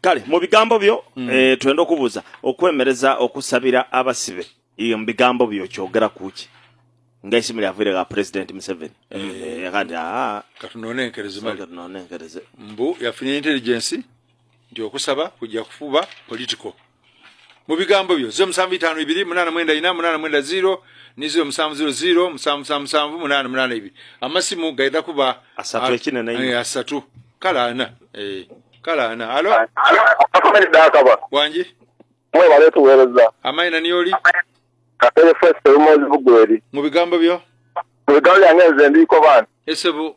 kale mu bigambo byo mm. eh, twenda okubuuza okwemereza okusabira abasibe iyo mu bigambo byo kyogera kuki nga esimu lyavire ga president museveni eh. eh, kati aa katunonenkereze mali katunonenkereze mbu yafunye intelligence nti okusaba kujja kufuba political mu bigambo byo ziro musanvu itaano ibiri munana mwenda ina munana mwenda ziro ni ziro musanvu ziro ziro musanvu musanvu musanvu munana munana ibiri amasimu gaida kuba asatu ekina na ina asatu kala ana eh kala ana alo akomere daka ba wanji mwe bale tuwereza amai na nioli kapele first temo zibugweri mu bigambo byo mu bigambo yange nze ndiko bana esebo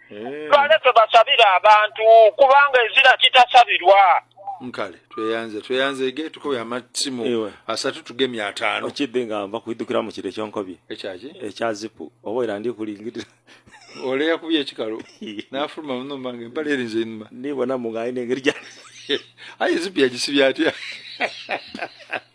eh. bale tebasabira abantu kubanga ezira kitasabirwa nkale tweyanze tweyanze ge tukubye amatsimu asatu tugemye ataano okidde nga nva kuidukira mu kiro ekyonkobye ekyaki ekya zipu oba era ndi kulingirira ole yakubye ekikalu n'afuluma muno mbange empala erinze enuma nibona mu ng'alina engeri gya aye zipu yagisibye atya